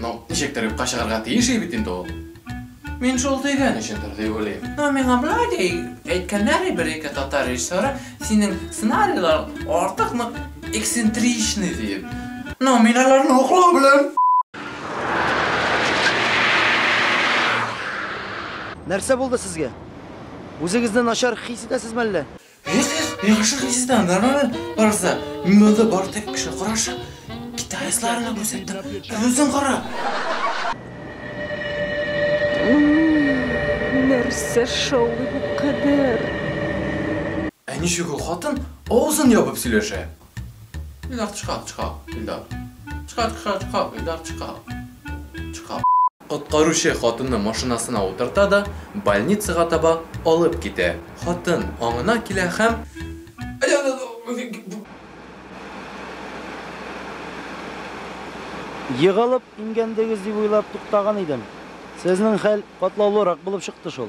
Ну, ничектер юкка чыгарга тиеш бит инде ул. Мин шул дигән өчендер дип уйлыйм. Ну, миңа болай ди әйткәннәр бер-ике татар режиссеры, синең сценарийлар артык нык эксцентричный диеп. Ну, мин аларны хуплау белән. Нәрсә булды сезгә? Үзегезне начар хис итәсезме әллә? Эх, эх, яхшы хисседән нормаль барса, мин монда бар тек кеше карашы, гитаристларына күрсәттем. Ә үзең кара. Нәрсә шаулый бу кадәр? Ә ничек ул хатын авызын ябып сөйләшә? Илдар, чыга, чыга, Илдар. Чыга, чыга, чыга, Илдар, чыга. Чыга. Коткаручы хатынны машинасына утырта да, больницага таба алып китә. Хатын аңына килә һәм. Егалып имгәндегез дип уйлап туктаган идем. Сезнең хәл катлаулырак булып чыкты шул.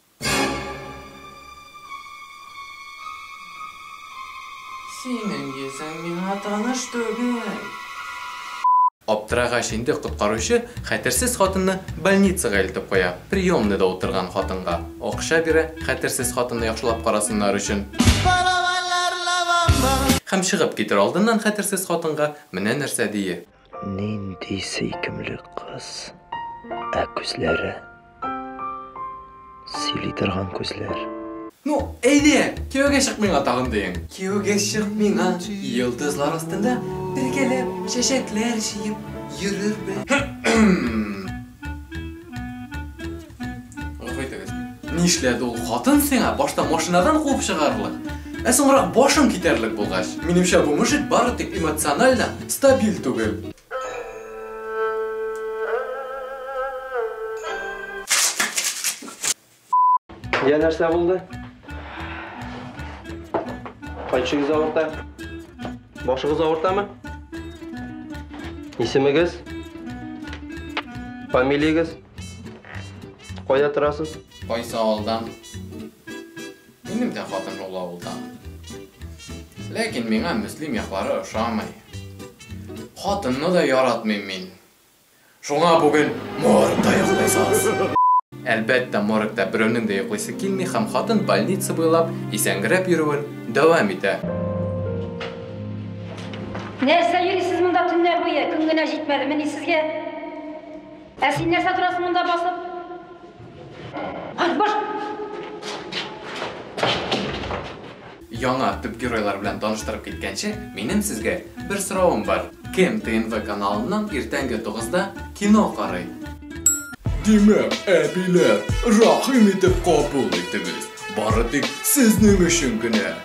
Синең йөзең миңа таныш түгел. Аптырагач инде коткаручы хәтерсез хатынны больницага илтеп куя, приемныйда утырган хатынга акча бирә, хәтерсез хатынны яхшылап карасыннар өчен. Һәм чыгып китер алдыннан хәтерсез хатынга менә нәрсә дия. Нинди сөйкемле кыз. Ә күзләре. Сөйли торган күзләр. Ну, әйдә, кияүгә чык миңа тагын диең. Кияүгә чык миңа. Йолдызлар астында бергәләп чәчәкләр җыеп йөрербез. Кайтыгыз. Нишләде ул хатын сиңа башта машинадан куып чыгарлык? Ә соңрак башың китәрлек булгач, минемчә бу мужик бары тик эмоционально стабиль түгел. Я нәрсә булды? Кайчыгыз авырта? Башыгыз авыртамы? Исемегез? Фамилиягез? Кайда торасыз? Кайсы авылдан? Минем дә хатын ул авылдан. Ләкин миңа Мөслим яклары ошамый. Хатынны да яратмыйм мин. Шуңа бүген моргта йоклыйсыз. Әлбәттә, моргта берәүнең дә йоклыйсы килми һәм хатын больница буйлап исәнгерәп йөрүен дәвам итә. Нәрсә йөрисез монда төннәр буе? Көн генә җитмәдемени сезгә? Ә син нәрсә торасың монда басып? Ай, баш! Яңа төп геройлар белән таныштырып киткәнче, минем сезгә бер соравым бар. Кем ТНВ каналыннан иртәнге 9-да кино карый? Димәк, әбиләр, рәхим итеп кабул итегез. Бары тик сезнең өчен генә.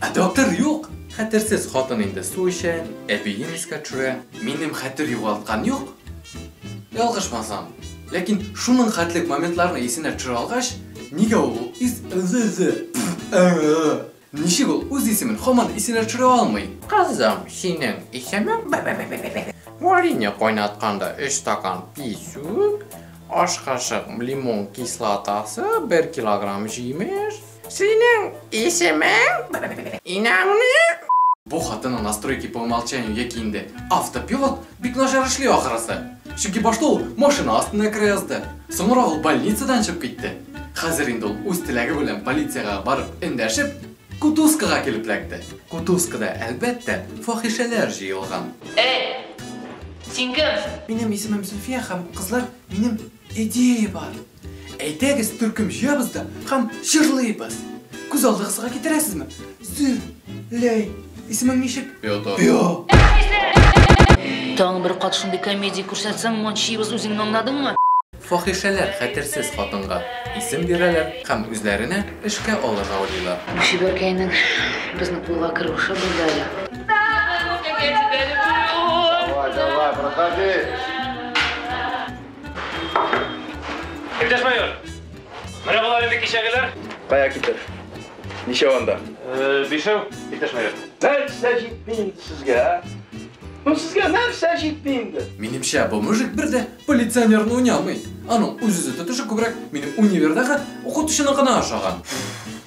Ә доктор юк! Хәтерсез хатын инде су эчә, әбиен искә төшерә. Минем хәтер югалткан юк. Ялгышмасам. Ләкин шуның хәтлек моментларны исенә төшерә алгач, нигә ул ис ы-зы-зы, пф, ы-ы-ы! Ничек ул үз исемен һаман исенә төшерә алмый? Кызым, синең исемең бе-бе-бе-бе-бе-бе. Варенье кайнатканда өч стакан писүк, аш кашык лимон кислотасы, бер килограмм җимеш. Синең исемең? Инаңны? Бу хатыны настройки по умолчанию яки инде автопилот бик начар эшли ахрысы. Чөнки башта ул машина астына керә язды. Соңрак ул больницадан чыгып китте. Хәзер инде ул үз теләге белән полициягә барып эндәшеп, кутузкага килеп эләкте. Кутузкада, әлбәттә, фахишәләр җыелган. Әй! Син кем? Минем исемем Зөлфия һәм кызлар минем Идея бар. Әйдәгез төркем җыябыз да һәм җырлыйбыз. Күз алдыгызга китерәсезме? Зөр, ләй, исемең ничек? Петр. Таң бер кат шундый комедия күрсәтсәң, мончыйбыз үзеңне аңладыңмы? Фахишәләр хәтерсез хатынга исем бирәләр һәм үзләренә эшкә алырга уйлыйлар. Чибәркәйнең безнең кулга керүше булды әле. Давай, давай, проходи. Иптәш майор, менә болар инде кичәгеләр. Кая китер? Ничәү анда? Э, бишәү, иптәш майор. Нәрсә җитми инде сезгә, а? Ну сезгә нәрсә җитми инде? Минемчә, бу мужик бер дә полиционерны уйнамый. Аның үз-үзе тотышы күбрәк минем универдагы укытучыны гына ошаган.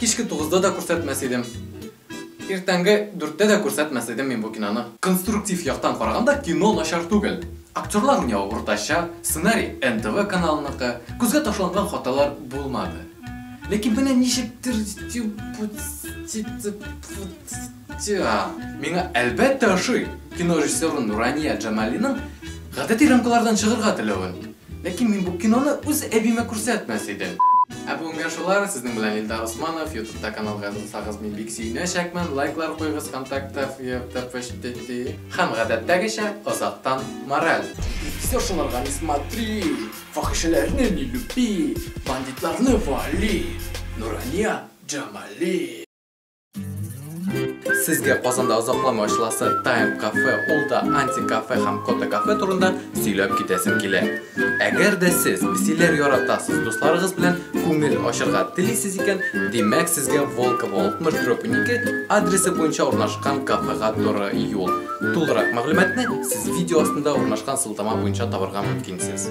Кичке тугызда да күрсәтмәс идем. Иртәнге дүрттә дә күрсәтмәс идем мин бу киноны. Конструктив яктан караганда кино начар түгел. Актерлар уйнавы уртача, сценарий НТВ каналыныкы, күзгә ташланган хаталар булмады. Ләкин менә ничектер типуцитипуцитиа миңа әлбәттә ошый, кино режиссеры Нурания Джамалиның гадәти рамкалардан чыгырга теләвен. Ләкин мин бу киноны үз әбимә күрсәтмәс идем. Ә бүгенгә шулар, сезнең белән Илдар Усманов, ютубта каналга язылсагыз мин бик сөенәчәкмен, лайклар куегыз, вконтакте, фб, вчтти. Һәм гадәттәгечә, азактан мораль. Все шуларга не смотри, фахишәләрне не люби, бандитларны вали, Нурания Джамали. Сезгә Казанда озакламый ачыласы Time Cafe, ул да Anti Cafe һәм Kota Cafe турында сөйләп китәсем килә. Әгәр дә сез песиләр яратасыз, дусларыгыз белән күңел ачырга телисез икән, димәк сезгә Волково 60-2 адресы буенча урнашкан кафега туры юл. Тулырак мәгълүматны сез видео астында урнашкан сылтама буенча табарга мөмкинсез.